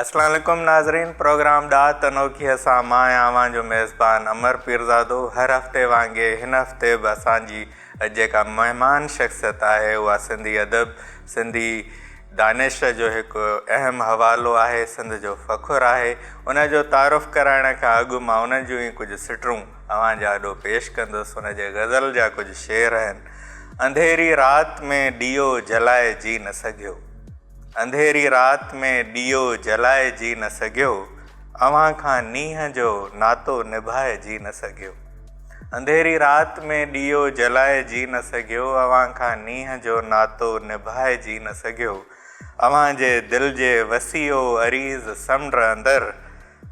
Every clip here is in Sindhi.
السلام عليڪم ناظرين پروگرام ڏات انوکيء سان مان آهيان اوهان جو ميزبان امر پيرزادو هر هفتي وانگي هن هفتي به اسان جي جيڪا مهمان شخصيت آهي اها سنڌي ادب سنڌي دانش جو هڪ اهم حوالو آهي سنڌ جو فخر آهي ان جو تعارف ڪرائڻ کان اڳ مان ان جون ئي ڪجهه سٽرون اوهان جي آڏو پيش ڪندس ان جي غزل جا ڪجهه شعر آهن. انڌيري رات ۾ ڏيئو جلائي جي نه سگهيو انڌيري رات ۾ ڏيئو جلائي جي نه سگهيو اوهان کان نينهن جو ناتو نڀائي جي نه سگهيو انڌيري رات ۾ ڏيئو جلائي جي نه سگهيو اوهان کان نينهن جو ناتو نڀائي جي نه سگهيو اوهان جي دل جي وسيعو عريض سمنڊ اندر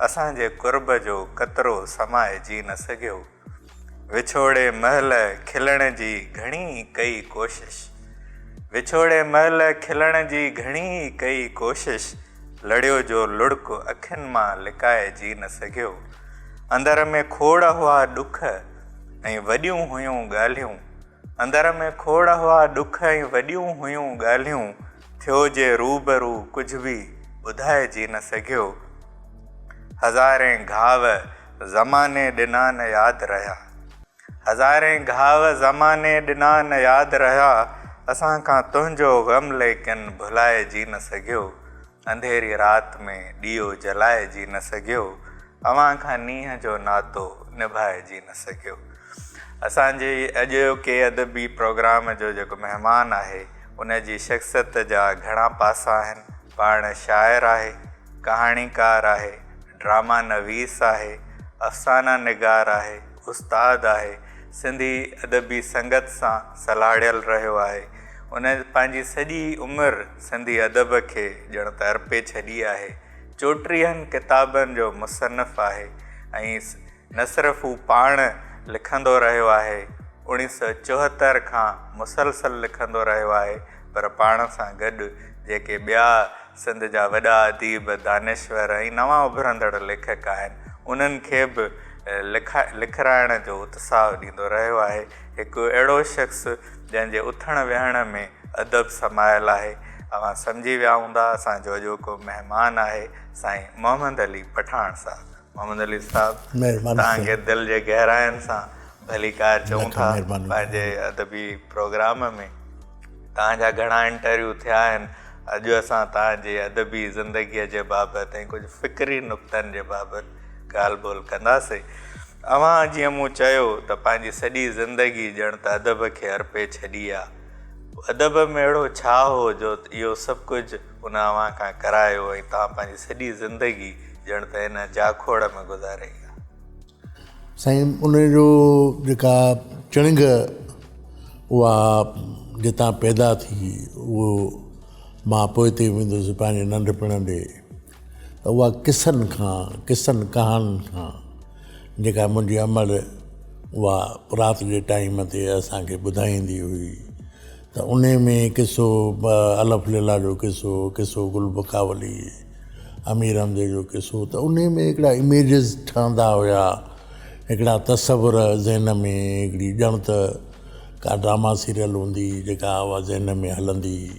اسان جي قرب جو قطرو سمائجي نه سگهيو. وڇوڙي مهل کلڻ جي گهڻي ئي ڪئي ڪوشش. وڇوڙي مهل کلڻ جي گهڻي ئي ڪئي ڪوشش، لڙيو جو لڙڪ اکين مان لڪائجي نه سگهيو. اندر ۾ کوڙ هئا ڏک ۽ وڏيون هيون ڳالهيون. اندر ۾ کوڙ هئا ڏک ۽ وڏيون هيون ڳالهيون، ٿيو جي روبرو ڪجهه به ٻڌائجي نه سگهيو. هزارين گهاء زماني ڏنا نه ياد رهيا. هزارين گهاء زماني ڏنا نه ياد رهيا، اسان کان تنهنجو غم ليڪن ڀلائجي نه سگهيو. انڌيري رات ۾ ڏيئو جلائجي نه سگهيو، اوهان کان نينهن جو ناتو نڀائجي نه سگهيو. اسان جي اڄوڪي ادبي پروگرام جو جيڪو مهمان آهي، ان جي شخصيت جا گهڻا پاسا آهن. پاڻ شاعر آهي، ڪهاڻيڪار آهي، ڊراما نويس آهي، افسانه نگار آهي، استاد آهي، سنڌي ادبي سنگت سان سلهاڙيل رهيو آهي. ان پنهنجي سڄي عمر. سنڌي ادب کي ڄڻ ته ارپي ڇڏي آهي. چوٽيهن ڪتابن جو مصنف آهي ۽ نه صرف هو پاڻ لکندو رهيو آهي، اوڻيهه سؤ چوهتر کان مسلسل لکندو رهيو آهي، پر پاڻ سان گڏ جيڪي ٻيا سنڌ جا وڏا اديب، دانشور ۽ نوان اڀرندڙ ليکڪ آهن، انهن کي به لکرائڻ جو اتساهه ڏيندو رهيو آهي. هڪ اهڙو شخص. جنهن جي اٿڻ ويهڻ ۾ ادب سمايل آهي. اوهان سمجهي ويا هوندا اسان جو اڄوڪو مهمان آهي سائين محمد علي پٺاڻ صاحب. محمد علي صاحب توهان کي دل جي گهراين سان ڀليڪار چئون ٿا پنهنجي ادبي پروگرام ۾ توهان جا گهڻا انٽرويو ٿيا آهن اڄ اسان توهان جي ادبي زندگي جي بابت ۽ ڪجهه فڪري نڪتن جي بابت ڳالهه ٻولهه ڪنداسين. اوهان جيئن مون چيو ته پنهنجي سڄي زندگي ڄڻ ته ادب کي ارپي ڇڏي آ. ادب ۾ اهڙو ڇا هو جو اهو سڀ ڪجهه ان اوهان کان ڪرايو ۽ توهان پنهنجي سڄي زندگي ڄڻ ته ان جاکوڙ ۾ گذاري آ. سائين ان جو جيڪا چڻنگ اها جتان پيدا ٿي اهو مان پوئتي ويندس پنهنجي ننڍپڻ ڏي ته اها قصن کان، قصن ڪهاڻين کان جيڪا منهنجي امڙ اها رات جي ٽائيم تي اسان کي ٻڌائيندي هئي ته انهي ۾ قصو الف ليلا جو قصو، قصو گل بکاولي، امير حمزي جو قصو ته انهي ۾ هڪڙا اميجز ٺهندا هيا، هڪڙا تصور ذهن ۾ هڪڙي ڄڻ ته ڪا ڊراما سيريل هوندي جيڪا اها ذهن ۾ هلندي هئي.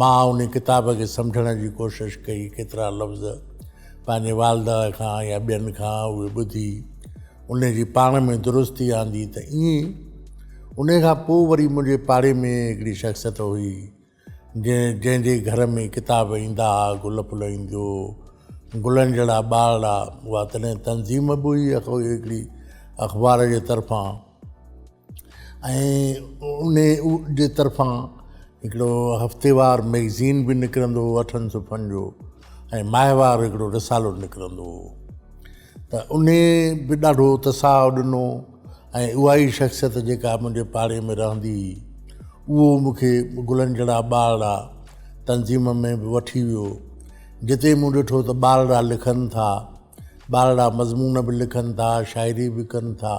مان انهي ڪتاب کي سمجهڻ جي ڪوشش ڪئي، ڪيترا لفظ پنهنجي والده کان يا ٻين کان اهي ٻڌي انهي جي پاڻ ۾ درستي آندي ته ائين انهي کان پوء وري منهنجي پاڙي ۾ هڪڙي شخصيت هئي جنهن جنهن جي گهر ۾ ڪتاب ايندا ها گل ڦل ايندو هو گلن جهڙا ٻارڙا اها تڏهن تنظيم به هئي هڪڙي اخبار جي طرفان ۽ ان جي طرفان هڪڙو هفتيوار مئگزين به نڪرندو هو اٺن صفحن جو ۽ ماهوار هڪڙو رسالو نڪرندو هو ته ان به ڏاڍو اتساهه ڏنو ۽ اها ئي شخصيت جيڪا منهنجي پاڙي ۾ رهندي هئي اهو مون کي گلن جهڙا ٻارڙا تنظيم ۾ به وٺي ويو جتي مون ڏٺو ته ٻارڙا لکن ٿا ٻارڙا مضمون به لکن ٿا شاعري به ڪن ٿا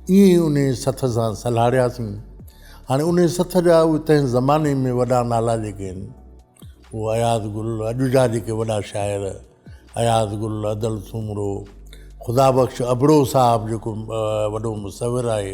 ائين انهيء سٿ سان سلهاڙياسين. هاڻي انهيء سٿ جا اهي تنهن زماني ۾ وڏا نالا جيڪي آهن، اهو اياز گل، اڄ جا جيڪي وڏا شاعر، اياز گل، ادل سومرو، خدا بخش ابڙو صاحب جيڪو وڏو مصور آهي،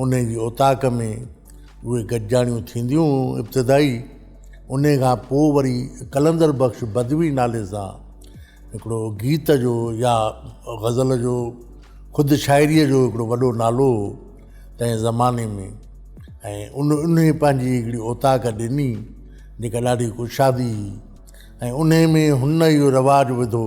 انهيء جي اوطاق ۾ اهي گڏجاڻيون ٿينديون هيون ابتدائي انهيء کان پوء وري قلندر بخش بدوي نالي سان هڪڙو گيت جو يا غزل جو خود شاعريء جو هڪڙو وڏو نالو هو تنهن زماني ۾ ۽ ان انهيء پنهنجي هڪڙي اوطاق ڏني جيڪا ڏاڍي ڪشادي هئي ۽ انهيء ۾ هن اهو رواج وڌو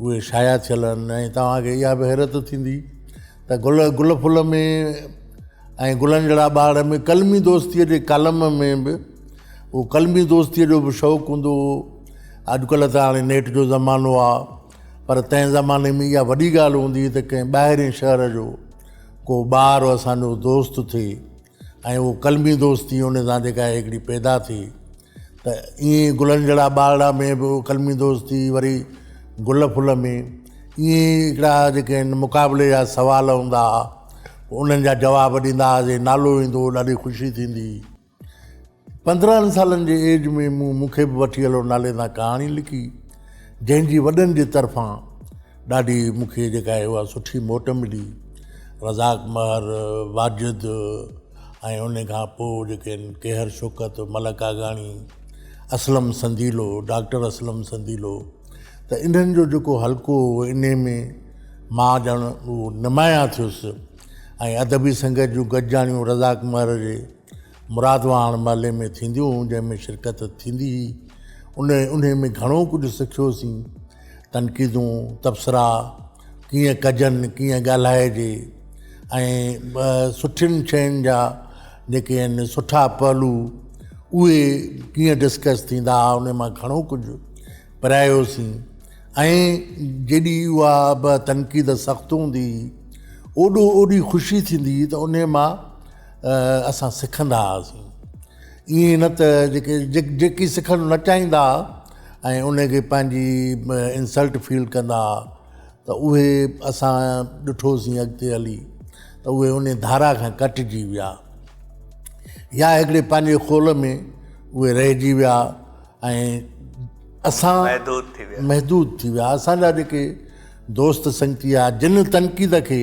اهي شايع ٿيل آهن ۽ توهان کي اها به حيرت ٿيندي ته گل گل ڦل ۾ ۽ گلن جهڙا ٻاڙ ۾ قلمي دوستيء جي ڪالم ۾ به اهو قلمي دوستيء جو به شوق هوندو هو اڄڪلهه ته هاڻي نيٽ جو زمانو آ پر تنهن زماني ۾ اها وڏي ڳالهه هوندي هئي ته ڪنهن ٻاهرين شهر جو ڪو ٻار اسان جو دوست ٿئي ۽ اهو قلمي دوستي ان سان جيڪا هڪڙي پيدا ٿي ته ائين ئي گلن جهڙا ٻارڙا ۾ به قلمي دوست ٿي وري گل ڦل ۾ ائين ئي هڪڙا جيڪي آهن مقابلي جا سوال هوندا هئا پوء انهن جا جواب ڏيندا هئاسين نالو ايندو هو ڏاڍي خوشي ٿيندي هئي پندرهن سالن جي ايج ۾ مون مون کي به وٺي هلو نالي سان ڪهاڻي لکي جنهن جي وڏن جي طرفان ڏاڍي مون کي جيڪا آهي اها سٺي موٽ ملي رزاق مهر واجد ۽ ان کان پوء جيڪي آهن ڪيهر شوڪت ملڪ آگاڻي اسلم سنديلو ڊاڪٽر اسلم سنديلو ته انهن جو جيڪو حلقو هو ان ۾ مان ڄڻ نمايان ٿيس ۽ ادبي سنگت جون گڏجاڻيون رزاق مهر جي مرادواڻ محلي ۾ ٿينديون جنهن ۾ شرڪت ٿيندي هئي ان انهي ۾ گهڻو ڪجهه سکيوسين تنقيدون تبصرا ڪيئن ڪجن ڪيئن ڳالهائجي ۽ سٺين شين جا جيڪي آهن سٺا پهلو اهي ڪيئن ڊسڪس ٿيندا ان مان گهڻو ڪجهه پرايوسين ۽ جيڏي اها تنقيد سخت هوندي هئي اوڏو اوڏي خوشي ٿيندي هئي ته انهي مان اسان سکندا هئاسين ائين نه ته جيڪي جيڪي سکڻ نه چاهيندا هئا ۽ ان کي پنهنجي انسلٽ فيل ڪندا هئا ته اهي اسان ڏٺوسين اڳتي هلي ته اهي ان ڌارا کان ڪٽجي ويا يا هڪڙي پنهنجي خول ۾ اهي رهجي ويا ۽ اسان محدود ٿي ويا محدود ٿي ويا اسان جا جيڪي دوست سنگتي هئا جن تنقيد کي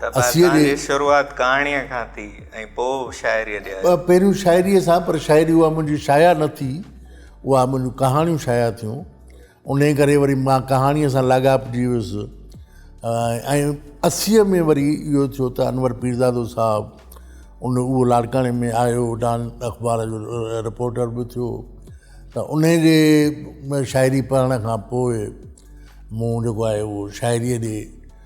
ته اسيء جي شروعات ڪهاڻيء کان ٿي ۽ پوء شاعريء ڏي آيو. پهريون شاعريء سان پر شاعري اها منهنجي شايع نه ٿي، اها منهنجون ڪهاڻيون شايع ٿيون، انهيء ڪري وري مان ڪهاڻيء سان لاڳاپجي ويس ۽ اسيء ۾ وري اهو ٿيو ته انور پيرزادو صاحب ان اهو لاڙڪاڻي ۾ آيو، ڊان اخبار جو رپورٽر به ٿيو ته انهيء جي شاعري پڙهڻ کان پوء مون جيڪو آهي اهو شاعريء ڏي.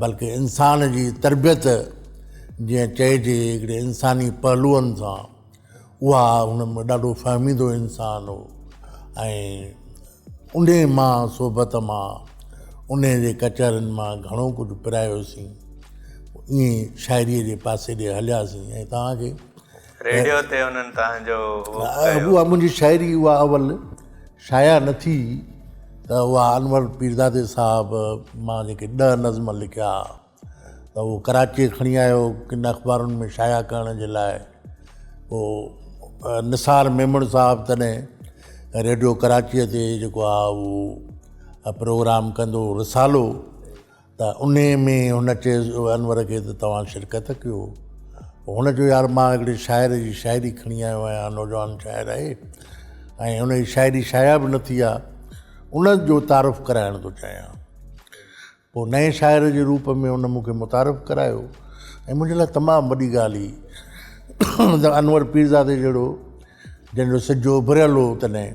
بلڪه انسان جي تربيت جيئن چئجي هڪڙي انساني پهلوئن سان اها هن ڏاڍو فهميدو انسان هو ۽ انهي مان صحبت مان انهي جي ڪچهرين مان گهڻو ڪجهه پرايوسين ائين شاعري جي پاسي ڏي هلياسين ۽ توهان کي ريڊيو تي انهن توهان جو اهو ڪيو. اها منهنجي شاعري اها اول شايع نه ٿي ته اها انور پيرزادي صاحب مان جيڪي ڏهه نظم لکيا ته اهو ڪراچيء کڻي آيو ڪن اخبارن ۾ شايع ڪرڻ جي لاء پوء نثار ميمڻ صاحب تڏهن ريڊيو ڪراچيء تي جيڪو آهي اهو پروگرام ڪندو هو رسالو ته انهيء ۾ هن چيس انور کي ته توهان شرڪت ڪيو. هن چيو يار مان هڪڙي شاعر جي شاعري کڻي آيو آهيان، نوجوان شاعر آهي ۽ هن جي شاعري شايع به نه ٿي آ، ان جو تعارف ڪرائڻ ٿو چاهيان. پوء نئين شاعر جي روپ ۾ هن مون کي متعارف ڪرايو ۽ منهنجي لاء تمام وڏي ڳالهه هئي ته انور پيرزادي جهڙو جنهن جو سج اڀريل هو تڏهن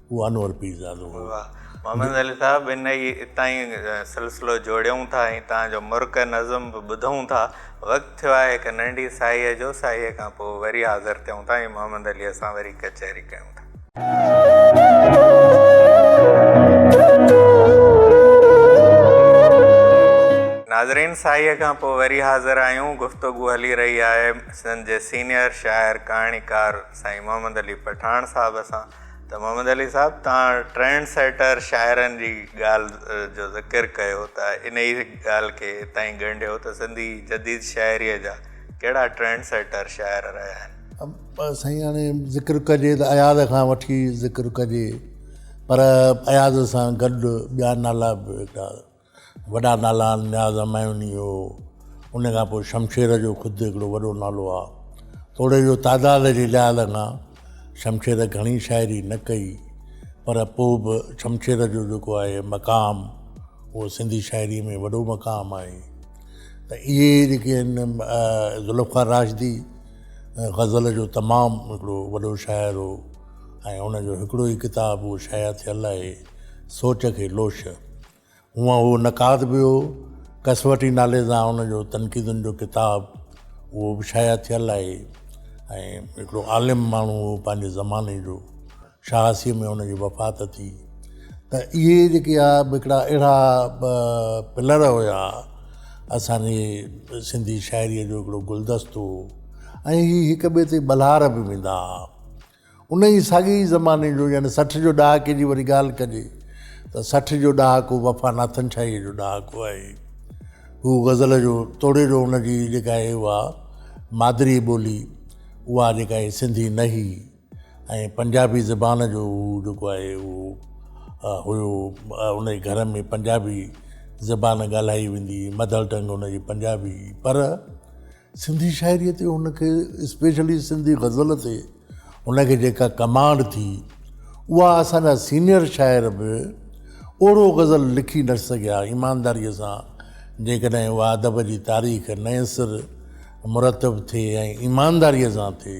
هو انور پيرزادو هو. واهه محمد علي صاحب انهي اتان ئي سلسلو جوڙيون ٿا ۽ تان جو مرڪ نظم به ٻڌون ٿا وقت ٿيو آهي هڪ ننڍي ساهيء جو ساهيء کان پوء وري حاضر ٿيون ٿا ۽ محمد عليء سان وري ڪچهري ڪيون ٿا. ناظرين ساهيء کان پوء وري حاضر آهيون گفتگو هلي رهي آهي سنڌ جي سينئر شاعر ڪهاڻيڪار سائين محمد علي پٺاڻ صاحب سان. ته محمد علي صاحب توهان ٽرينڊ سيٽر شاعرن جي ڳالهه جو ذڪر ڪيو ته انهي ڳالهه کي تائين ڳنڍيو ته سنڌي جديد شاعري جا ڪهڙا ٽرينڊ سيٽر شاعر رهيا آهن. سائين هاڻي ذڪر ڪجي ته اياز کان وٺي ذڪر ڪجي پر اياز سان گڏ ٻيا نالا به هيڏا وڏا نالا آهن نياز همايوني هو ان کان پوء شمشير جو خود هڪڙو وڏو نالو آهي توڙي جو تعداد جي لحاظ کان شمشير گهڻي شاعري نه ڪئي پر پوء به شمشير جو جيڪو آهي مقام اهو سنڌي شاعري ۾ وڏو مقام آهي ته اهي جيڪي آهن ذوالفقار راشدي غزل جو تمام هڪڙو وڏو شاعر هو ۽ ان جو هڪڙو ئي ڪتاب اهو شايع ٿيل آهي سوچ کي لوش هونء اهو نقاد به هو. ڪسوٽي نالي سان هن جو تنقيدن جو ڪتاب اهو به شايع ٿيل آهي ۽ هڪڙو عالم ماڻهو هو پنهنجي زماني جو. شهاسيء ۾ هن جي وفات ٿي ته اهي جيڪي آ به هڪڙا اهڙا پلر هيا اسان جي سنڌي شاعريء جو هڪڙو گلدستو هو ۽ هي هڪ ٻئي تي ٻلهار به ويندا هئا. ان ئي ساڳئي زماني جو يعني سٺ جو ڏهاڪي جي وري ڳالهه ڪجي ته سٺ جو ڏهاڪو وفا ناٿن شاهيء جو ڏهاڪو آهي. هو غزل جو توڙي جو ان جي جيڪا آهي اها مادري ٻولي اها جيڪا آهي سنڌي نه هئي ۽ پنجابي زبان جو هو جيڪو آهي اهو هيو ان جي گهر ۾ پنجابي زبان ڳالهائي ويندي هئي مدر ٽنگ ان جي پنجابي هئي پر سنڌي شاعريء تي هن کي اسپيشلي سنڌي غزل تي هن کي جيڪا ڪمانڊ ٿي اها اسان جا سينئر شاعر به اوڙو غزل لکي نه سگهيا ايمانداريء سان جيڪڏهن اها ادب جي تاريخ نئين سر مرتب ٿئي ۽ ايمانداريء سان ٿئي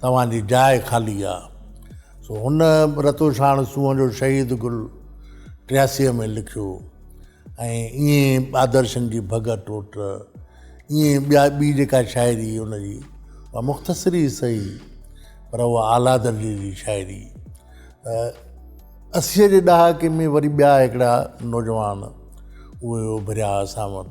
توهان جي جاء خالي آ. سو هن رتوشاڻ سونهن جو شهيد گل ٽياسيء ۾ لکيو ۽ ائين آدرشن جي ڀڳ ٽوٽ ائين ٻيا ٻي جيڪا شاعري ان جي اها مختصر ئي سهي پر اها اعليٰ درجي جي شاعري اسيء جي ڏهاڪي ۾ وري ٻيا هڪڙا نوجوان اهي اڀريا اسان وٽ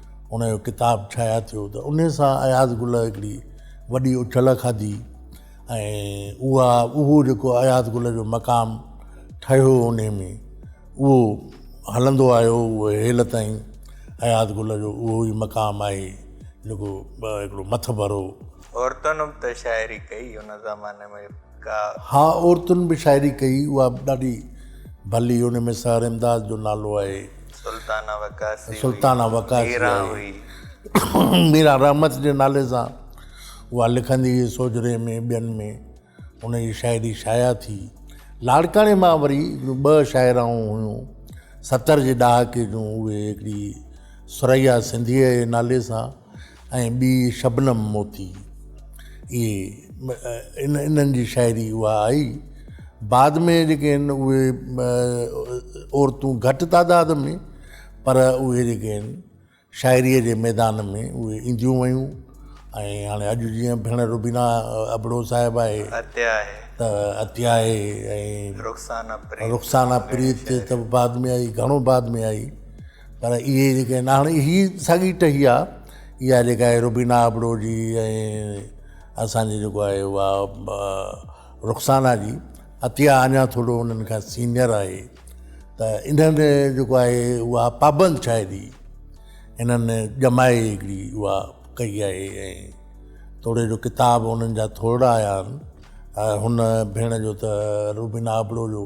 ان جو ڪتاب شايع ٿيو ته ان سان اياز گل هڪڙي وڏي اڇل کاڌي ۽ اها اهو جيڪو اياز گل جو مقام ٺهيو ان ۾ اهو هلندو آيو اهو هيل تائين اياز گل جو اهو ئي مقام آهي جيڪو هڪڙو مٿڀرو عورتن به ته شاعري ڪئي ان زماني ۾ ها عورتن به شاعري ڪئي اها به ڏاڍي ڀلي ان ۾ سحر امداد جو نالو آهي سلطانه وقاسي سلطانه وقاسي آهي ميرا رحمت جي نالي سان اها لکندي هئي سوجري ۾ ٻين ۾ ان جي شاعري شايع ٿي لاڙڪاڻي مان وري ٻه شاعراؤن هيون ستر جي ڏهاڪي جون اهي هڪڙي سريا سنڌيء جي نالي سان ۽ ٻي شبنم موتي اهي ان انهن جي شاعري اها آئي بعد ۾ جيڪي آهن اهي عورتون گهٽ تعداد ۾ پر اهي جيڪي آهن شاعريء جي ميدان ۾ اهي اينديون ويون ۽ هاڻي اڄ جيئن ڀيڻ روبينا ابڙو صاحب آهي عطيه آهي ته عطيه آهي ۽ رخسانه پريت رخسانه پريت ته بعد ۾ آئي گهڻو بعد ۾ آئي پر اهي جيڪي آهن هاڻي هي ساڳي ٽهي آ اها جيڪا آهي روبينا ابڙو جي ۽ اسانجي جيڪو آهي اها رخسانا جي عطيه اڃا ٿورو انهن کان سينئر آهي ته انهن جيڪو آهي اها پابند شاعري انهن ڄمائي هڪڙي اها ڪئي آهي ۽ توڙي جو ڪتاب انهن جا ٿورڙا آيا آهن هن ڀيڻ جو ته روبينا ابڙو جو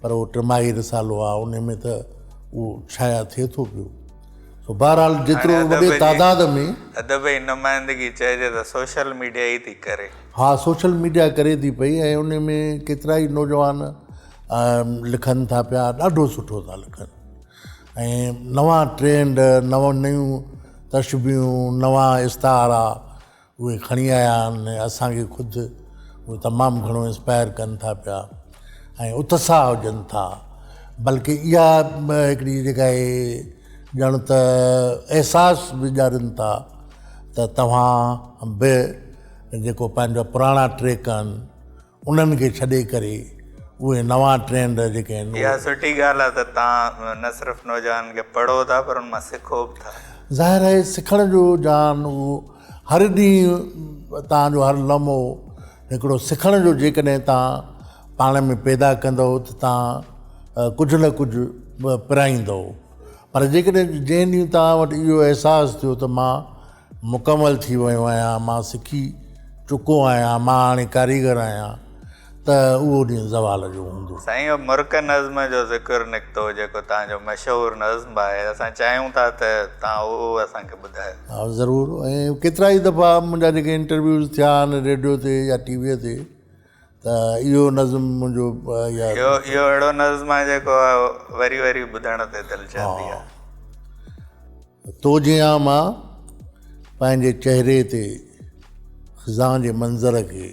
پر اهو ٽماهي رسالو آهي ان ۾ ته اهو شايع ٿئي ٿو پيو سو بهرحال جيترو وڏي تعداد ۾ ادب جي نمائندگي چئجي ته سوشل ميڊيا ئي ٿي ڪري. ها سوشل ميڊيا ڪري ٿي پئي ۽ ان ۾ ڪيترائي نوجوان لکن ٿا پيا ڏاڍو سٺو ٿا لکن ۽ نوان ٽرينڊ نون نيون تشبيهون نوان استعارا اهي کڻي آيا آهن ۽ اسان کي خود اهي تمام گهڻو انسپائر ڪن ٿا پيا ۽ اتساهه ڏين ٿا بلڪه اها هڪڙي جيڪا اهي ڄڻ ته احساس به ڏيارين ٿا ته توهان به جيڪو پنهنجا پراڻا ٽريڪ آهن انهن کي ڇڏي ڪري اهي نوان ٽرينڊ جيڪي آهن. اها سٺي ڳالهه آهي ته توهان نه صرف نوجوانن کي پڙهو ٿا پر ان مان سکو به ٿا. ظاهر آهي سکڻ جو جهان اهو هر ڏينهن توهان جو هر لمحو هڪڙو سکڻ جو جيڪڏهن توهان پاڻ ۾ پيدا ڪندؤ ته توهان ڪجهه نه ڪجهه پرائيندؤ پر جيڪڏهن جنهن ڏينهن توهان وٽ اهو احساس ٿيو ته مان مڪمل ٿي ويو آهيان، مان سکي چڪو آهيان، مان هاڻي ڪاريگر آهيان ته اهو ڏينهن زوال جو هوندو. سائين اهو مرڪ نظم جو ذڪر نڪتو جيڪو توهان جو مشهور نظم به آهي اسان چاهيون ٿا ته توهان اهو اسان کي ٻڌايو. ها ضرور ۽ ڪيترائي دفعا منهنجا جيڪي انٽرويوز ٿيا آهن ريڊيو تي يا ٽي ويء تي ته اهو نظم منهنجو ياد اهو اهو اهڙو نظم آهي جيڪو وري وري ٻڌڻ تي دل چاهندي آهي تو جيان مان پنهنجي چهري تي خزان جي منظر کي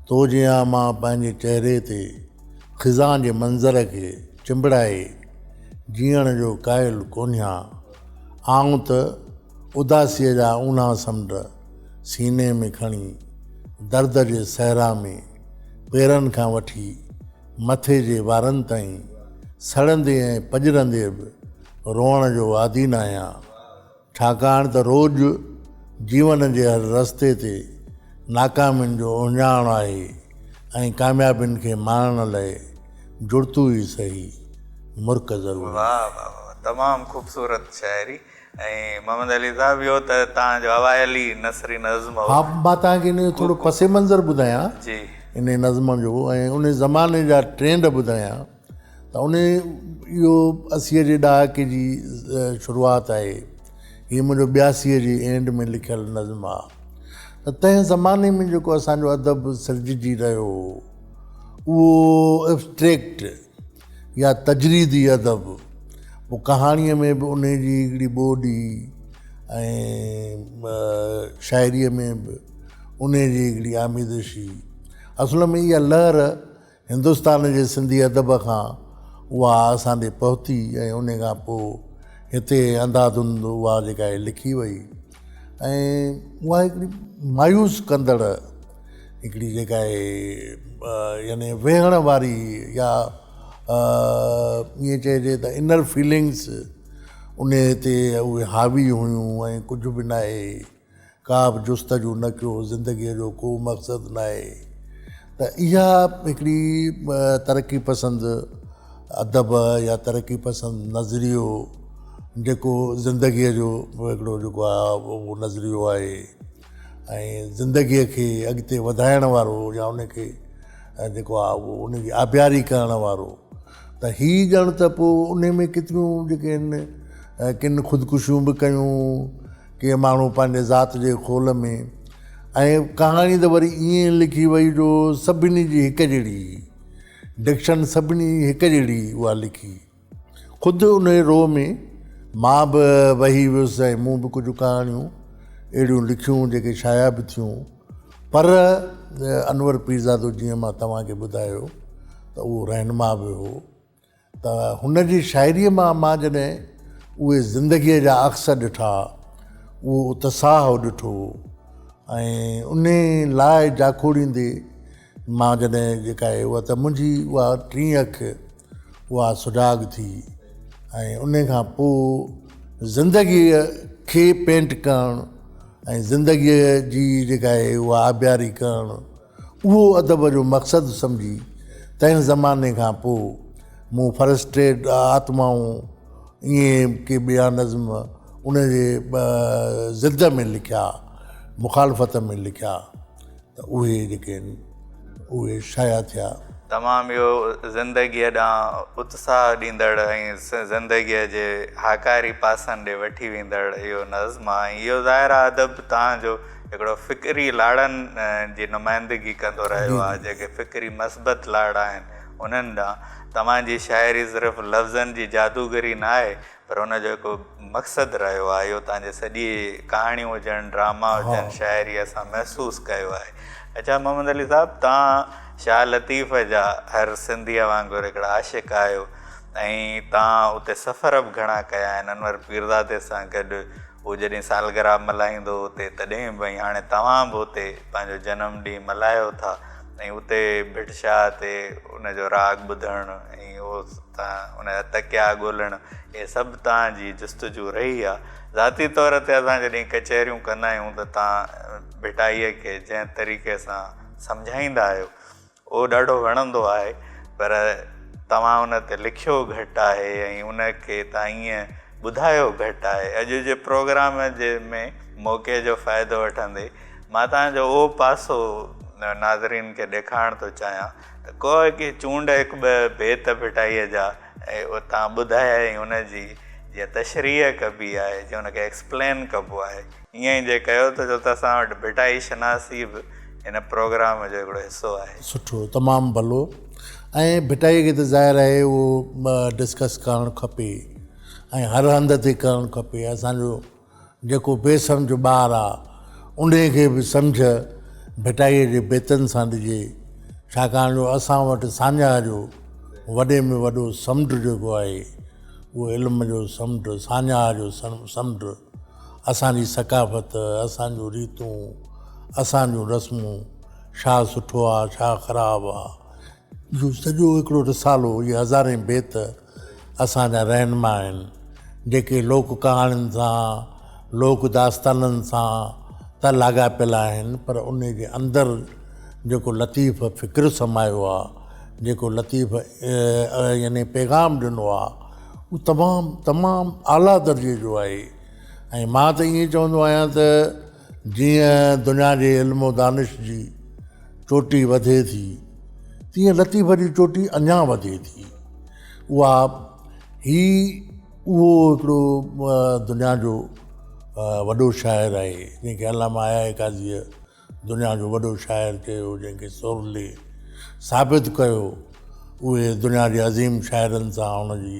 تو جيان مان پنهنجي چهري تي خزان جي منظر کي چنبڙائي جيئڻ جو قائل ڪونهيان آئون ته اداسيء جا اونها سمنڊ سيني ۾ کڻي درد جي صحرا ۾ پيرن کان وٺي مٿي جي وارن تائين سڙندي ۽ پڄرندي به روئڻ جو عادي ناهيان ڇاڪاڻ ته روڄ جيون جي هر رستي تي ناڪامين جو اهڃاڻ آهي ۽ ڪاميابين کي ماڻڻ لئه جڙتو ئي سهي مرڪ ضروري آهي. واھ واھ واھ تمام خوبصورت شاعري. ۽ محمد علي صاحب اهو ته توهان جو اوائلي نثري نظم هو. ها مان توهان کي ان جو ٿورو پس منظر ٻڌايان ان نظم جو ۽ ان زماني جا ٽرينڊ ٻڌايان ته ان اهو اسيء جي ڏهاڪي جي شروعات آهي هي منهنجو ٻياسيء جي اينڊ ۾ لکيل نظم آ ته تنهن زماني ۾ جيڪو اسان جو ادب سرججي رهيو هو اهو ابسٽريڪٽ يا تجريدي ادب، پوء ڪهاڻيء ۾ به انهيء جي هڪڙي ٻوڏي ۽ شاعريء ۾ به انهيء جي هڪڙي آميزشي. اصل ۾ اها لهر هندستان جي سنڌي ادب کان اها اسان ڏي پهتي ۽ انهيء کان پوء هتي انڌاڌنڌ اها جيڪا هي لکي وئي ۽ اها هڪڙي مايوس ڪندڙ هڪڙي جيڪا اهي يعني ويهڻ واري يا ائين چئجي ته انر فيلنگس ان تي اهي حاوي هيون ۽ ڪجهه به ناهي ڪا به جستجو نه ڪيو زندگيء جو ڪو مقصد ناهي ته اها هڪڙي ترقي پسند ادب يا ترقي پسند نظريو جيڪو زندگيء جو هڪڙو جيڪو آهي اهو نظريو آهي ۽ زندگيء کي اڳتي وڌائڻ وارو يا ان کي جيڪو آهي اهو ان جي آبياري ڪرڻ وارو ته هي ڄڻ ته پوء ان ۾ ڪيتريون جيڪي آهن ڪن خودڪشيون به ڪيون ڪي ماڻهو پنهنجي ذات جي خول ۾ ۽ ڪهاڻي ته وري ائين لکي وئي جو سڀني جي هڪ جهڙي ڊڪشن سڀني هڪ جهڙي اها لکي خود انهيء روء ۾ مان به وهي ويس ۽ مون به ڪجهه ڪهاڻيون اهڙيون لکيون جيڪي شايع به ٿيون پر انور پيرزادو جيئن مان توهان کي ٻڌايو ته اهو رهنما به هو ته هن جي شاعريء مان مان جڏهن اهي زندگيء جا عڪس ڏٺا اهو اتساهه ڏٺو ۽ ان لاء جاکوڙيندي مان جڏهن جيڪا اهي هئا ته منهنجي اها ٽين اک اها سڊاگ ٿي ۽ ان کان پوء زندگيء کي پينٽ ڪرڻ ۽ زندگيء جي جيڪا آهي اها آبياري ڪرڻ اهو ادب جو مقصد سمجهي تنهن زماني کان پوء مون فرسٽريٽ آتمائون ائين ڪي ٻيا نظم ان جي ضد ۾ لکيا مخالفت ۾ لکيا ته اهي جيڪي آهن اهي شايع ٿيا. تمام اهو زندگيء ڏانهن اتساهه ڏيندڙ ۽ زندگيء جي هاڪاري پاسن ڏي وٺي ويندڙ اهو نظم آهي ۽ اهو ظاهر آهي ادب توهان جو هڪڙو فڪري لاڙن جي نمائندگي ڪندو رهيو آهي جيڪي فڪري مثبت لاڙا آهن انهن ڏانهن توهان جي شاعري صرف لفظن جي جادوگري ناهي پر ان جو هڪ مقصد رهيو آهي اهو تنهنجي سڄي ڪهاڻيون هجن ڊراما هجن شاعري اسان محسوس ڪيو آهي اڇا محمد علي صاحب تان شاهه لطيف جا هر سنڌيء وانگر هڪڙا عاشق آهيو ۽ تان اتي سفر به گهڻا ڪيا آهن انور پيرزادي سان گڏ هو جڏهن سالگرا ملهائيندو اتي تڏهن به ۽ هاڻي توهان به اتي پنهنجو جنم ڏينهن ملهايو ٿا ۽ اتي ڀٽ شاهه تي ان جو راڳ ٻڌڻ ۽ اهو تان ان جا تڪيا ڳولڻ اهي سڀ تان جي جستجو رهي آ ذاتي طور تي اسان جڏهن ڪچهريون ڪندا آهيون ته تان ڀٽائيء کي جنهن طريقي سان سمجهائيندا آهيو اهو ڏاڍو وڻندو آهي پر توهان ان تي لکيو گهٽ آهي ۽ ان کي تان ائين ٻڌايو گهٽ آهي اڄ جي پروگرام جي ۾ موقعي جو فائدو وٺندي مان توهان جو اهو پاسو ناظرين کي ڏيکارڻ ٿو چاهيان ته ڪوء ڪي چونڊ هڪ ٻه بيت ڦٽائيء جا ۽ اتان ٻڌايائين ان جي جيئن تشريح ڪبي آهي جيئن ان کي ايڪسپلين ڪبو آهي ائين ئي جي ڪيو ٿو ڇو ته اسان وٽ ڀٽائي شناسي به هن پروگرام جو هڪڙو حصو آهي. سٺو تمام ڀلو ۽ ڀٽائي کي ته ظاهر آهي اهو ڊسڪس ڪرڻ کپي ۽ هر هنڌ تي ڪرڻ کپي اسان جو جيڪو بي سمجهه ٻار آ، انهيء کي به سمجهه ڀٽائيء جي بيتن سان ڏجي، ڇاڪاڻ جو اسان وٽ ساڃاهه جو وڏي ۾ وڏو سمنڊ جيڪو آهي، اهو علم جو سمنڊ، ساڃاهه جو سمنڊ، اسان جي ثقافت، اسان جون ريتون، اسان جون رسمون، ڇا سٺو آ، ڇا خراب آ، اهو سڄو هڪڙو رسالو، اهي هزارين بيت، اسان جا رهنما آهن جيڪي لوڪ ڪهاڻين سان لوڪ داستانن سان ته لاڳاپيل آهن پر انهي جي اندر جيڪو لطيف فڪر سمايو آهي جيڪو لطيف يعني پيغام ڏنو آهي اهو تمام تمام اعليٰ درجي جو آهي ۽ مان ته ائين چوندو آهيان ته جيئن دنيا جي علم و دانش جي چوٽي وڌي ٿي، تيئن لطيف جي چوٽي اڃان وڌي ٿي. اها هي اهو هڪڙو دنيا جو وڏو شاعر آهي، جنهن کي علامه حياء قاضيء دنيا جو وڏو شاعر چيو، جنهن کي سورلي ثابت ڪيو، اهي دنيا جي عظيم شاعرن سان هن جي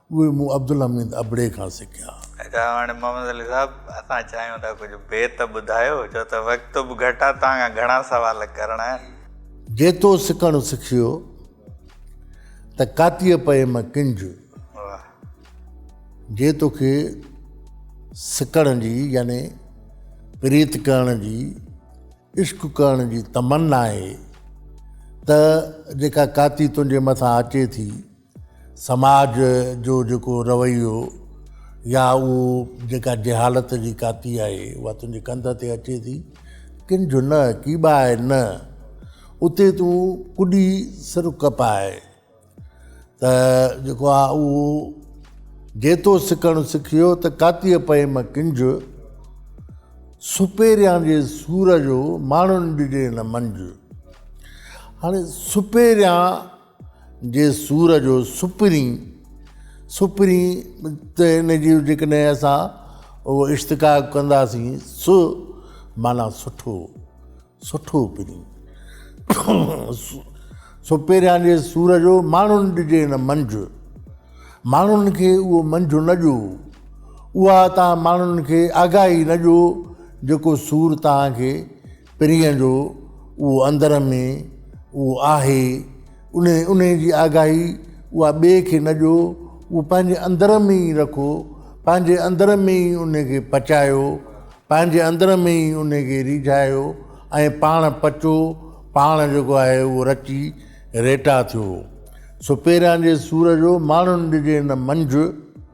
اهي مون عبدالحميد ابڙي کان سکيا. اچا هاڻي محمد علي صاحب اسان چاهيون ٿا ڪجهه بيت ٻڌايو ڇو ته وقت به گهٽ آهي توهان کان گهڻا سوال ڪرڻا آهن. جيتو سکڻ سکيو ته ڪاتيء پئي م ڪنج. واه. جي توکي سکڻ جي يعني پريت ڪرڻ جي عشق ڪرڻ جي تمنا آهي ته جيڪا ڪاتي تنهنجي مٿان اچي ٿي. سماج جو جيڪو رويو يا اهو جيڪا جهالت جي ڪاتي آهي اها تنهنجي ڪنڌ تي اچي ٿي ڪن جو نه ڪي به آهي نه اتي تون ڪڏي سر ڪپ آهي ته جيڪو آ اهو جيتو سکڻ سکيو ته ڪاتي پئي م ڪنج سپيريان جي سور جو ماڻهن ڏجي نه منج هاڻي سپيريان جي سور جو سپرين سپرين ته ان جي جيڪڏهن اسان اهو اشتقاق ڪنداسين سو معنيٰ سٺو سٺو پرين سو پهريان جي سور جو ماڻهن ڏجي هن منجهه ماڻهن کي اهو منجهه نه ڏيو اها تان ماڻهن کي آگاهي نه ڏيو جيڪو سور تان کي پرينء جو اهو اندر ۾ اهو آهي، انهي انهي جي آگاهي اها ٻئي کي نه ڏيو، اهو پنهنجي اندر ۾ ئي رکو، پنهنجي اندر ۾ ئي انهي کي پچايو، پنهنجي اندر ۾ ئي انهي کي ريجهايو ۽ پاڻ پچو، پاڻ جيڪو آهي اهو رچي ريٽا ٿيو. سپيران جي سور جو ماڻهن ڏجي نه منجهه.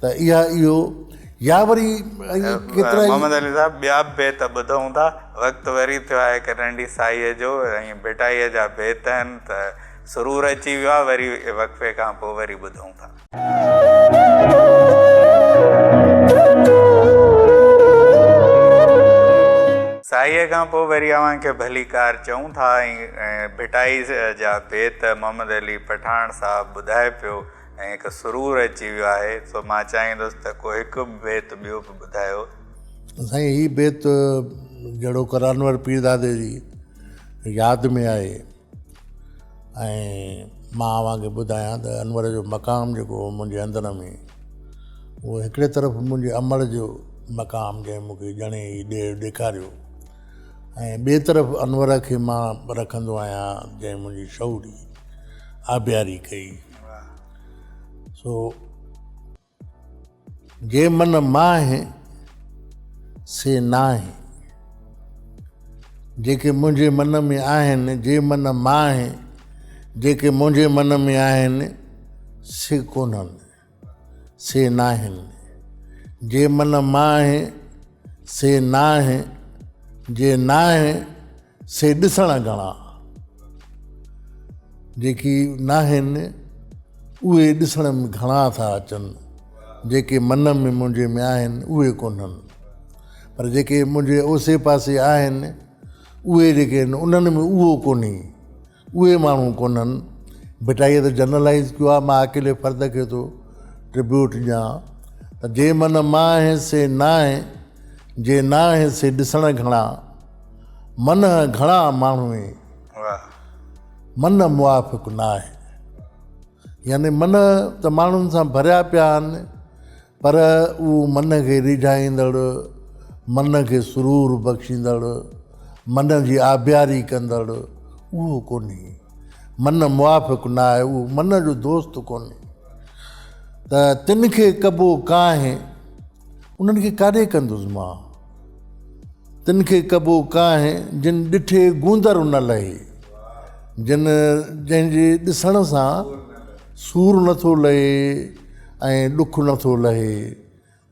ته اها اهو يا وري ائين ڪيترا ئي. محمد علي صاحب ٻيا به بيت ٻڌئون ٿا. وقت وري ٿيو آهي هڪ ننڍي سائيء جو ۽ ڀٽائيء جا بيت آهن ته سرور اچي ويو آهي وري وقفي کان پوء وري ٻڌئون ٿا. سائيء کان پوء وري اوهان کي ڀلي ڪار چئون ٿا ۽ ڀٽائيء جا بيت محمد علي پٺاڻ صاحب ٻڌائي پيو. ۽ هڪ سرور اچي ويو آهي سو مان چاهيندس ته ڪو هڪ بيت ٻيو به ٻڌايو. سائين هي بيت جهڙو ڪرانور پيردادي جي ياد ۾ آهي ۽ مان اوهان کي ٻڌايان ته انور جو مقام جيڪو هو منهنجي اندر ۾ اهو هڪڙي طرف منهنجي امڙ جو مقام جنهن مون کي ڄڻي هي ڏير ڏيکاريو ۽ ٻي طرف انور کي مان رکندو آهيان جنهن منهنجي شعوري آبياري ڪئي. سو جي من ماهي سي ناهي جيڪي منهنجي من ۾ آهن جي من ماهي جيڪي منهنجي من ۾ آهن سي ڪونهن سي ناهن جي من ماهي سي ناهي جي ناهي سي ڏسڻا گهڻا جيڪي ناهن اهي ڏسڻ ۾ گهڻا ٿا اچن جيڪي من ۾ منهنجي ۾ آهن اهي ڪونهن پر جيڪي منهنجي اوسي پاسي آهن اهي جيڪي آهن انهن ۾ اهو ڪونهي اهي ماڻهو ڪونهن. ڀٽائيء ته جنرلائيز ڪيو آهي، مان اڪيلي فرد کي ٿو ٽربيوٽ ڏيان ته جي من مانهه سي نانهه، جي نانهه سي ڏسڻ گهڻا، منهه گهڻا ماڻهوئي، من موافق ناهي. يعني من ته ماڻهن سان ڀريا پيا آهن. پر اهو من کي ريجهائيندڙ، من کي سرور بخشيندڙ، من جي آبياري ڪندڙ اهو ڪونهي. من موافق نه آهي، اهو من جو دوست ڪونهي. ته تن کي ڪبو ڪانهي، انهن کي ڪاڏي ڪندس مان؟ تن کي ڪبو ڪانهي، جن ڏٺي گوندر نه لهي. جن جنهن جي ڏسڻ سان سور نٿو لهي. ائين ڏک نه ٿو لهي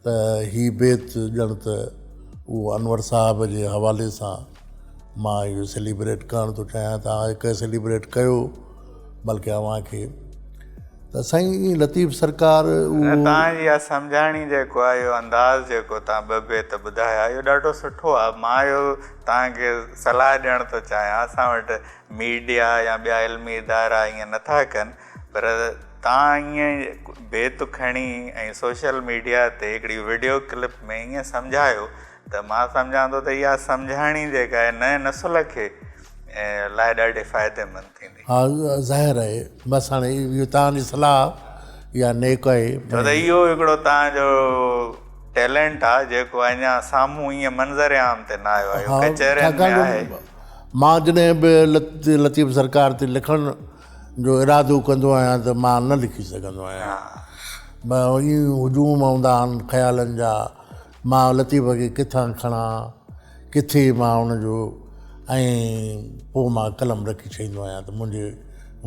ته هي بيت ڄڻ ته اهو انور صاحب جي حوالي سان مان اهو سيليبريٽ ڪرڻ ٿو چاهيان ته هاڻي ڪنهن سيليبريٽ ڪيو بلڪه اوهان کي ته سائين لطيف سرڪار اهو توهان جي اها سمجهاڻي جيڪو آهي اهو انداز جيڪو توهان ٻه بيت ٻڌايا اهو ڏاڍو سٺو آهي مان اهو توهان کي صلاح ڏيڻ ٿو چاهيان اسان وٽ ميڊيا يا ٻيا علمي ادارا ائين نه ٿا ڪن پر تان ائين بيت کڻي ۽ سوشل ميڊيا تي هڪڙي وڊيو ڪلپ ۾ ائين سمجهايو ته مان سمجهان ٿو ته اها سمجهاڻي جيڪا آهي نئين نسل کي لاء ڏاڍي فائديمند ٿيندي. ها ظاهر آهي بس هاڻي اهو تان جي صلاح يا نيڪ آهي. ڇو ته اهو هڪڙو تان جو ٽيلنٽ آهي جيڪو اڃا سامهون ائين منظر عام تي نه آيو آهي اهو ڪچهرين ۾ آهي. مان جڏهن به لطيف سرڪار تي لکڻ. جو ارادو ڪندو آهيان ته مان نه لکي سگهندو آهيان. ٻه ايئن ئي هجوم اوندا آهن خيالن جا، مان لطيف کي ڪٿان کڻان، ڪٿي مان ان جو ۽ پوء مان قلم رکي ڇهيندو آهيان ته منهنجي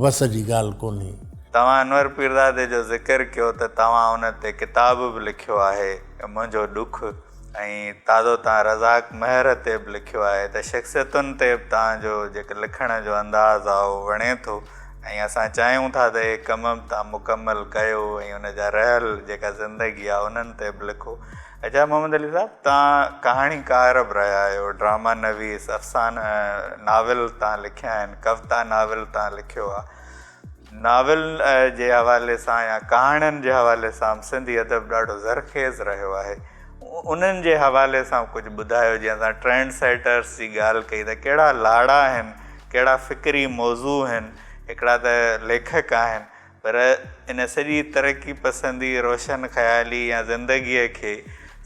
وس جي ڳالهه ڪونهي. توهان انور پيرزادي جو ذڪر ڪيو ته توهان ان تي ڪتاب به لکيو آهي، منهنجو ڏک. ۽ تازو تان رزاق مهر تي به لکيو آهي ته شخصيتن تي به تان جو جيڪو لکڻ جو انداز آهي اهو وڻي ٿو ۽ اسان چاهيون ٿا ته اهي ڪم به تان مڪمل ڪيو ۽ ان جا رهيل جيڪا زندگي آهي انهن تي به لکو. اچا محمد علي صاحب تان ڪهاڻي ڪار به رهيا آهيو، ڊراما نويس، افسانه ناول تان لکيا آهن، ڪوتا ناول تان لکيو آهي، ناول جي حوالي سان يا ڪهاڻين جي حوالي سان به سنڌي ادب ڏاڍو زرخيز رهيو آهي. انهن جي حوالي سان ڪجهه ٻڌايو جيئن اسان ٽرينڊ سيٽرس جي ڳالهه ڪئي ته ڪهڙا لاڙا آهن، ڪهڙا فڪري موضوع آهن، هڪڙا ته ليکڪ آهن پر ان سڄي ترقي پسندي، روشن خيالي يا زندگيء کي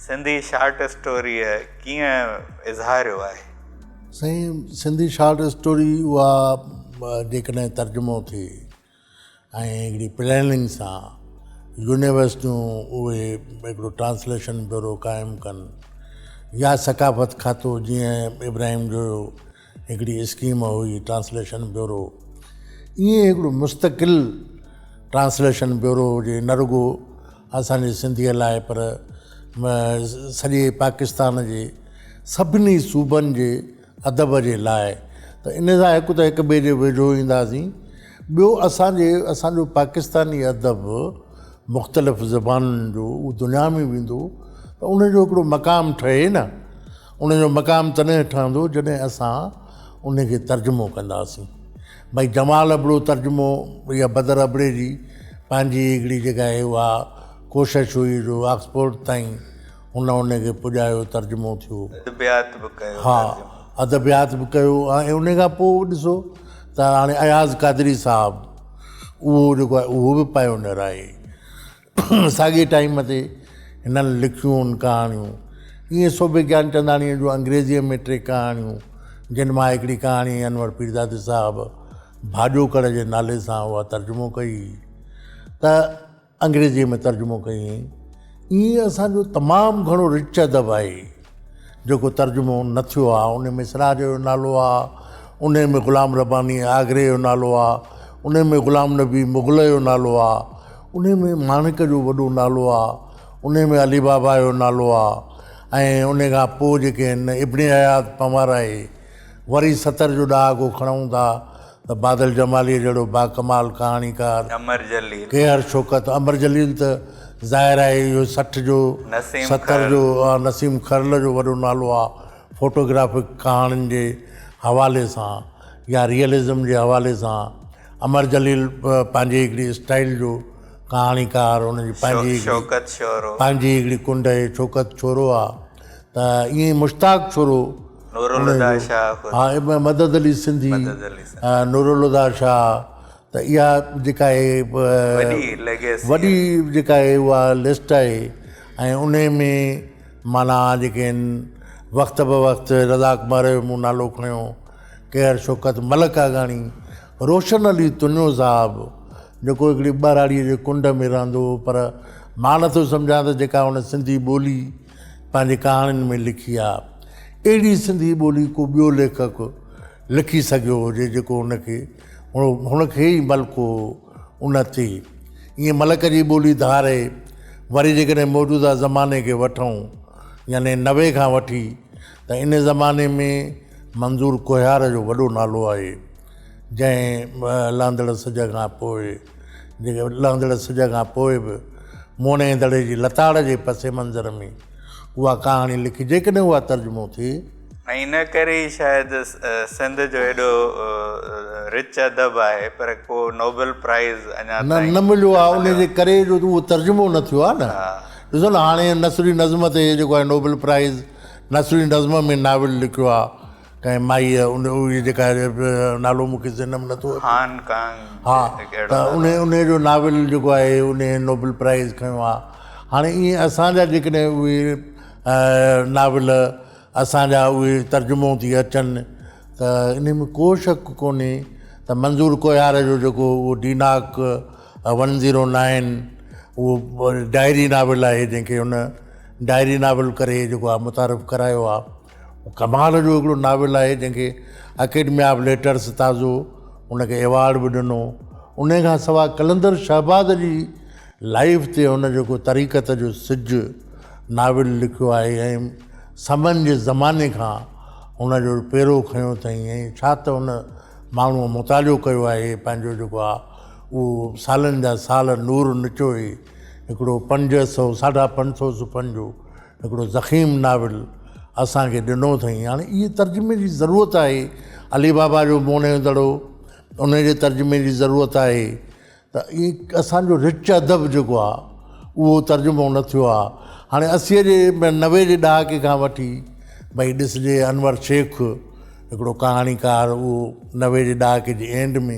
سنڌي شارٽ اسٽوريء ڪيئن اظهاريو آهي. سائين سنڌي شارٽ اسٽوري اها جيڪڏهن ترجمو ٿئي ۽ هڪڙي پلاننگ سان يونيورس جون اهي هڪڙو ٽرانسليشن بيورو قائم ڪن يا ثقافت کاتو جيئن ابراهيم جو هڪڙي اسڪيم هئي ٽرانسليشن بيورو ائين هڪڙو مستقل ٽرانسليشن بيورو هجي نه رڳو اسان جي سنڌيء لاء پر سڄي پاڪستان جي سڀني صوبن جي ادب جي لاء ته ان سان هڪ ته هڪ ٻئي جي ويجهو اينداسين ٻيو اسان جي اسان جو پاڪستاني ادب مختلف زبانن جو اهو دنيا ۾ ويندو ته ان جو هڪڙو مقام ٺهي نه ان جو مقام تڏهن ٺهندو جڏهن اسان ان کي ترجمو ڪنداسين ڀاء جمال ابڙو ترجمو يا بدر ابڙي جي پنهنجي هڪڙي جيڪا هي اها ڪوشش هئي جو آڪسفورڊ تائين هن ان کي پڄايو ترجمو ٿيو. ادبيات به ڪيو ها ترجمو. ادبيات به ڪيو ۽ ان کان پوء ڏسو ته هاڻي اياز قادري صاحب اهو جيڪو آهي اهو به پائونيئر آهي. ساڳئي ٽائيم تي هنن لکيون ڪهاڻيون ائين سوڀي گيانچنداڻيء جون انگريزيء ۾ ٽي ڪهاڻيون، جن مان هڪڙي ڪهاڻي انور پيرزادي صاحب ڀاڄوڪڙ جي نالي سان اها ترجمو ڪئي هئي ته انگريزيء ۾ ترجمو ڪئي هئائين. ائين اسان جو تمام گهڻو رچ ادب آهي. جيڪو ترجمو نه ٿيو آ انهي ۾ سراج جو نالو آ انهي ۾ غلام رباني آگري جو نالو آ انهي ۾ غلام نبي مغل جو نالو آ انهي ۾ ماڻڪ جو وڏو نالو آ انهي ۾ علي بابا جو نالو آ ۽ انهي کان پوء جيڪي هن ابن اياز پنوارائي وري ستر جو ڏهاڪو کڻئون ٿا ته بادل جماليء جهڙو باڪمال ڪهاڻيڪار امر جليل. ڪيهر شوڪت امر جليل ته ظاهر آهي اهو سٺ جو نسيم ستر خرل. جو نسيم خرل جو وڏو نالو آهي فوٽو گرافڪ ڪهاڻين جي حوالي سان يا ريئلزم جي حوالي سان امر جليل پنهنجي هڪڙي اسٽائيل جو ڪهاڻيڪار ان جي پنهنجي هڪڙي شوڪت شورو. پنهنجي هڪڙي ڪنڊ اهي شوڪت شورو آهي. ته ائين ئي مشتاق ڇورو نورالهديٰ شاهه خود ها ابن مدد علي سنڌي مدد علي سنڌي ها نورالهديٰ شاهه ته اها جيڪا هي وڏي ليگيسي وڏي جيڪا هي اها لسٽ آهي ۽ انهي ۾ معنيٰ جيڪي آهن وقت به وقت رضا ڪمار جو مون نالو کڻيو ڪيهر شوڪت ملڪ آگاڻي روشن علي تنيو صاحب جيڪو هڪڙي ٻهراڙيء جي ڪنڊ ۾ رهندو هو پر مان نٿو سمجهان ته جيڪا هن سنڌي ٻولي پنهنجي ڪهاڻين ۾ لکي آ اهڙي سنڌي ٻولي ڪو ٻيو ليکڪ لکي سگهيو هجي جيڪو هن کي هن کي ئي ملڪو هو ان تي ائين ملڪ جي ٻولي ڌاري وري جيڪڏهن موجوده زماني کي وٺون يعني نوي کان وٺي ته ان زماني ۾ منظور ڪوهيار جو وڏو نالو آهي جنهن لهندڙ سج کان پوء جيڪي لهندڙ سج کان پوء به موهڻي دڙي جي لتاڙ جي پس منظر ۾ اها ڪهاڻي لکي جيڪڏهن اها ترجمو ٿئي ۽ ان ڪري ئي شايد سنڌ جو ايڏو رچ ادب آهي پر ڪو نوبل پرائز اڃا تائين نه مليو آهي ان جي ڪري جو اهو ترجمو نه ٿيو آهي نه ڏسو نه هاڻي نثري نظم تي جيڪو آهي نوبل پرائز نثري نظم ۾ ناول لکيو آ ڪنهن مائيء ان اهي جيڪا نالو مون کي ذهن ۾ نٿو اچي هان ڪانگ ها ته ان ان جو ناول جيڪو آهي ان نوبل پرائز کنيو آ هاڻي ائين اسان جا جيڪڏهن اهي ناول اسان جا اهي ترجمو ٿي اچن ته ان ۾ ڪو شڪ ڪونهي ته منظور ڪوهيار جو جيڪو اهو ڊيناڪ ون زيرو نائن اهو ڊائري ناول آهي جنهن کي هن ڊائري ناول ڪري جيڪو آ متعارف ڪرايو آ ڪمال جو هڪڙو ناول آهي جنهن کي اڪيڊمي آف ليٽرس تازو ان کي ايوارڊ به ڏنو ان کان سواء قلندر شهباز جي لائف تي هن جيڪو طريقت جو سج ناول لکيو آهي ۽ سمن جي زماني کان هن جو پيرو کنيو اٿئي ۽ ڇا ته هن ماڻهوء مطالعو ڪيو آهي پنهنجو جيڪو آ اهو سالن جا سال نور نچوئي هڪڙو پنج سو ساڍا پنج سو صفحن جو هڪڙو ضخيم ناول اسان کي ڏنو اٿئي. هاڻي اهي ترجمي جي ضرورت آهي. علي بابا جو موهڻيو دڙو ان جي ترجمي جي ضرورت آهي ته اهي اسان جو رچ ادب جيڪو آهي اهو ترجمو نه ٿيو آهي. هاڻي اسيء جي نوي جي ڏهاڪي کان وٺي ڀئي ڏسجي انور شيخ هڪڙو ڪهاڻيڪار اهو نوي جي ڏهاڪي جي اينڊ ۾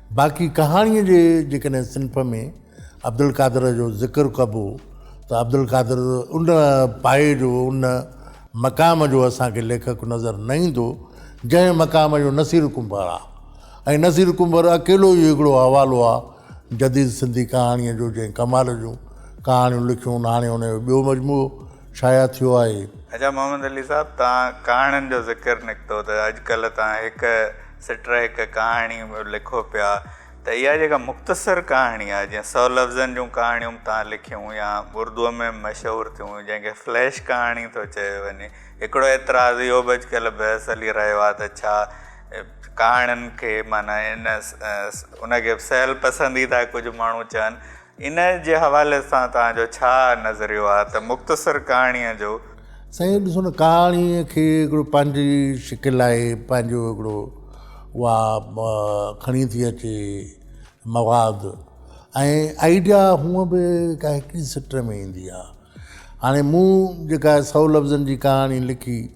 باقي ڪهاڻيء جي جيڪڏهن صنف ۾ عبدالقادر جو ذڪر ڪبو ته عبدالقادر ان پايي جو ان مقام جو اسان کي ليکڪ نظر نه ايندو جنهن مقام جو نصير ڪنڀر آ ۽ نصير ڪنڀر اڪيلو ئي هڪڙو حوالو آ جديد سنڌي ڪهاڻيء جو جنهن ڪمال جون ڪهاڻيون لکيون هاڻي ان جو ٻيو مجموعو شايع ٿيو آهي. اچا محمد علي صاحب توهان ڪهاڻين جو ذڪر نڪتو ته اڄڪلهه توهان هڪ سٽر هڪ ڪهاڻي لکو پيا ته اها جيڪا مختصر ڪهاڻي آهي جيئن سؤ لفظن جون ڪهاڻيون تان لکيون يا اردوء ۾ مشهور ٿيون جنهن کي فليش ڪهاڻي ٿو چيو وڃي هڪڙو اعتراض اهو به اڄڪلهه بحث هلي رهيو آهي ته ڇا ڪهاڻين کي معنيٰ ان ان کي سهل پسنديده ڪجهه ماڻهو چون ان جي حوالي سان توهان جو ڇا نظريو آهي ته مختصر ڪهاڻيء جو. سائين ڏسو نه ڪهاڻيء کي هڪڙو پنهنجي شڪل آهي پنهنجو هڪڙو اها کڻي ٿي اچي مواد ۽ آئيڊيا هونء به ڪا هڪڙي سٽ ۾ ايندي آهي هاڻي مون جيڪا سئو لفظن جي ڪهاڻي لکي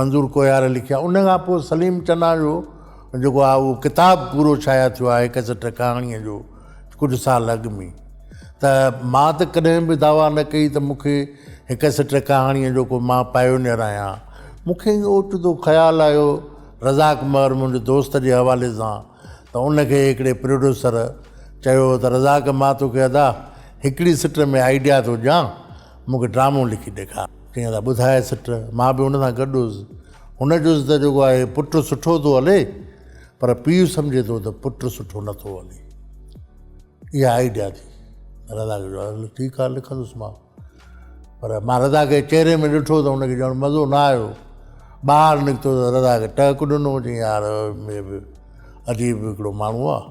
منظور ڪوهيار لکيا ان کان پوء سليم چنا جو جيڪو آهي اهو ڪتاب پورو شايع ٿيو آهي ڪسٽ ڪهاڻيء جو ڪجهه سال اڳ ۾ ته مان ته ڪڏهن به دعويٰ نه ڪئي ته مونکي هڪ سٽ ڪهاڻيء جو ڪو مان پائونيئر آهيان مونکي اوچتو خيال آيو رزاق مهر منهنجي دوست جي حوالي سان ته ان کي هڪڙي پروڊيوسر چيو ته رزاق مان توکي ادا هڪڙي سٽ ۾ آئيڊيا ٿو ڏيان مونکي ڊرامو لکي ڏيکار ڪيئن ٿا ٻڌايس سٽ، مان به هن سان گڏ هوس. هن چيس ته جيڪو آهي پٽ سٺو ٿو هلي پر پيء سمجهي ٿو ته پٽ سٺو نه ٿو هلي. اها آئيڊيا ٿي. رضا کي چيو هل ٺيڪ آهي لکندس مان. پر مان رضا کي چهري ۾ ڏٺو ته هن کي ڄڻ مزو نه آيو. ٻاهر نڪتو ته رضا کي ٽهڪ ڏنو چيائين يار هي به عجيب هڪڙو ماڻهو آهي.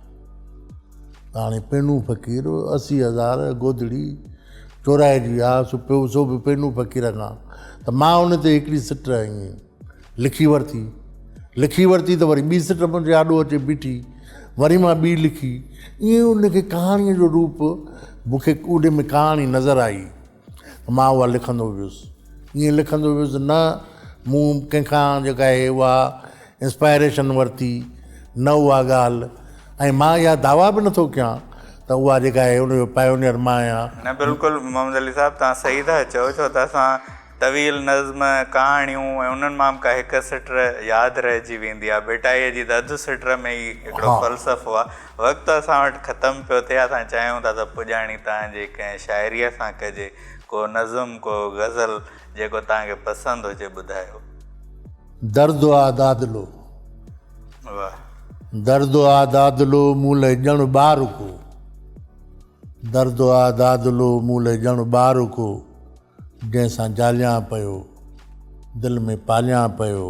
هاڻي پينو فقير اسي هزار گودڙي چورائي جي آ سو پيو سو به پينو فقير کان ته مان ان تي هڪڙي سٽ ائين لکي ورتي لکي ورتي ته وري ٻي سٽ منهنجي آڏو اچي بيٺي وري مان ٻي لکي ائين ان کي ڪهاڻيء جو روپ مون کي ان ۾ ڪهاڻي نظر آئي مان اها لکندو ويس. ائين لکندو ويس نه مون ڪنهن کان جيڪا آهي اها انسپائريشن ورتي، نه اها ڳالهه ۽ مان اها دعويٰ به نٿو ڪيان ته اها جيڪا آهي ان جو پائونيئر مان آهيان. نه بلڪل محمد علي صاحب توهان صحيح ٿا چئو ڇو ته اسان طويل نظم، ڪهاڻيون ۽ انهن مان به ڪا هڪ سٽر ياد رهجي ويندي آهي. ڀٽائيء جي ته اڌ سٽر ۾ ئي هڪڙو فلسفو آهي. وقت اسان وٽ ختم پيو ٿئي، اسان چاهيون ٿا ته پڄاڻي توهان جي ڪنهن شاعريء سان ڪجي، ڪو نظم، ڪو غزل، جيڪو توهان کي پسند هجي ٻڌايو. درد آ دادلو. واهه. درد آ دادلو مون لئه ڄڻ ٻار ڪو. درد آ دادلو مون لئه ڄڻ ٻار ڪو. جنهن سان جاليان پيو، دل ۾ پاليان پيو،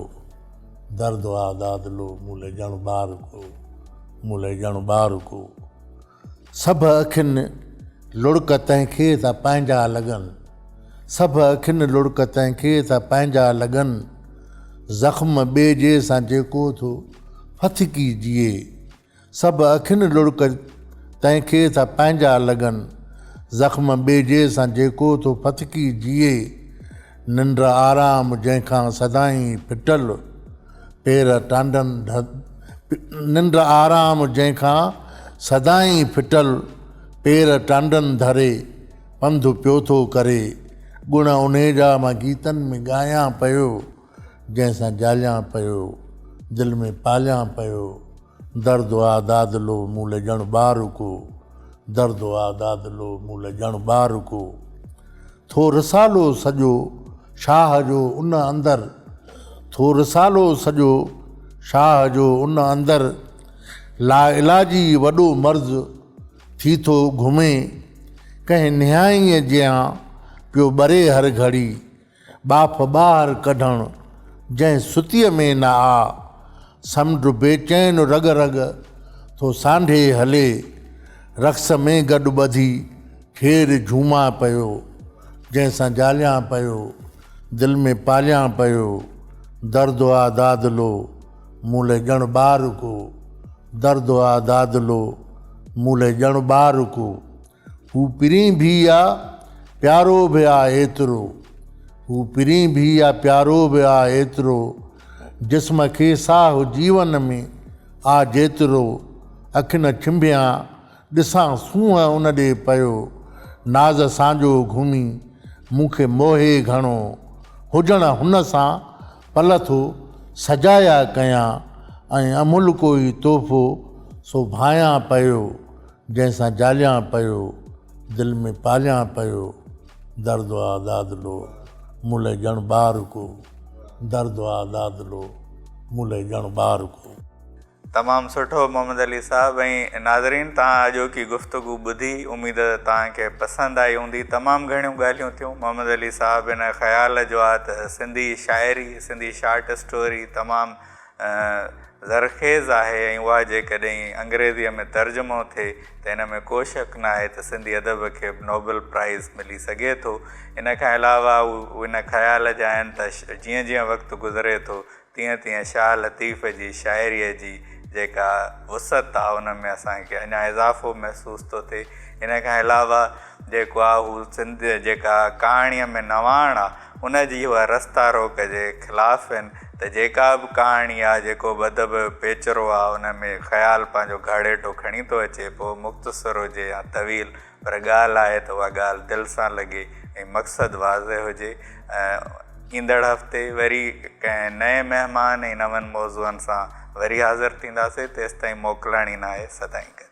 درد آ داد لو، مون لئه ڄڻ ٻار ڪو، مون لئه ڄڻ ٻار ڪو. سڀ اکين لڙڪ تنهن کي ٿا پنهنجا لڳن، سڀ اکين لڙڪ تنهن کي ٿا پنهنجا لڳن، زخم ٻئي جي سان جيڪو ٿو ڦٿڪي جيئي، سڀ اکين لڙڪ تنهن کي ٿا پنهنجا لڳن. زخم ٻيجي سان جيڪو ٿو ڦٿڪي جيئي. ننڊ آرام جنهن کان سدائين ڦٽل پير ٽانڊن ننڊ آرام جنهن کان سدائين ڦٽل پير ٽانڊن ڌري پنڌ پيو ٿو ڪري. ڳڻ انهيجا مان گيتن ۾ ڳايان پيو. جنهن سان جاليان پيو، دل ۾ پاليان پيو، درد آ داد لو مون لئه ڄڻ ٻار ڪو، درد آ داد لو مون لئه ڄڻ ٻار ڪو. ٿو رسالو سڄو شاهه جو ان اندر، ٿو رسالو سڄو شاهه جو ان اندر، لاعلاجي وڏو مرض ٿي ٿو گهمي، ڪنهن نهائيء جيان پيو ٻري هر گهڙي، ٻاڦ ٻاهر ڪڍڻ جنهن ستيء ۾ نه آ. سمنڊ بيچين رڳ رڳ ٿو سانڍي هلي. رقص ۾ گڏ ٻڌي کير جهومان پيو. جنهن سان جاليان پيو، دل ۾ پاليان پيو. درد آ دادلو، مون لئه ڄڻ ٻار ڪو. درد آ دادلو، مون لئه ڄڻ ٻار ڪو. هو پرين ڀي آ پيارو به آ ايترو هو پرين ڀي آ پيارو به آ ايترو جسم کي ساهه جيون ۾ آ جيترو اکين ڇنڀيان ڏسان سونهن ان ڏي پيو ناز سانجو گهمي مون کي موهي گهڻو هجڻ هن سان پل ٿو سجايا ڪيان ۽ املڪو ئي تحفو سو ڀانيان پيو جنهن سان جاليان پيو، دل ۾ پاليان پيو، درد آ داد لو، مون لئه ڄڻ ٻار ڪو، درد آ داد لو، مون لئه ڄڻ ٻار ڪو. تمام سٺو محمد علي صاحب ۽ ناظرين توهان اڄوڪي گفتگو ٻڌي اميد توهان کي پسند آئي هوندي تمام گهڻيون ڳالهيون ٿيون محمد علي صاحب ان خيال جو آ ته سنڌي شاعري سنڌي شارٽ اسٽوري تمام زرخيز آهي ۽ اها جيڪڏهن انگريزيء ۾ ترجمو ٿئي ته ان ۾ ڪو شڪ ناهي ته سنڌي ادب کي به نوبل پرائز ملي سگهي ٿو. ان کان علاوه هو ان خيال جا آهن ته جيئن جيئن وقت گذري ٿو تيئن تيئن شاهه لطيف جي شاعريء جي جيڪا وسعت آهي ان ۾ اسان کي اڃا اضافو محسوس ٿو ٿئي. ان کان علاوه جيڪو آهي هو سنڌ جيڪا ڪهاڻيء ۾ نواڻ آهي. ان جي اها رستا روڪ جي خلاف آهن ته جيڪا به ڪهاڻي آ، جيڪو به ادب پيچرو آ، ان ۾ خيال پنهنجو گهاڙيٽو کڻي ٿو اچي، پوء مختصر هجي يا طويل، پر ڳالهه آهي ته اها ڳالهه دل سان لڳي ۽ مقصد واضح هجي. ايندڙ هفتي وري ڪنهن نئين مهمان ۽ نون موضوعن سان وري حاضر ٿينداسين، تيستائين موڪلڻ ئي ناهي سدائين گڏ.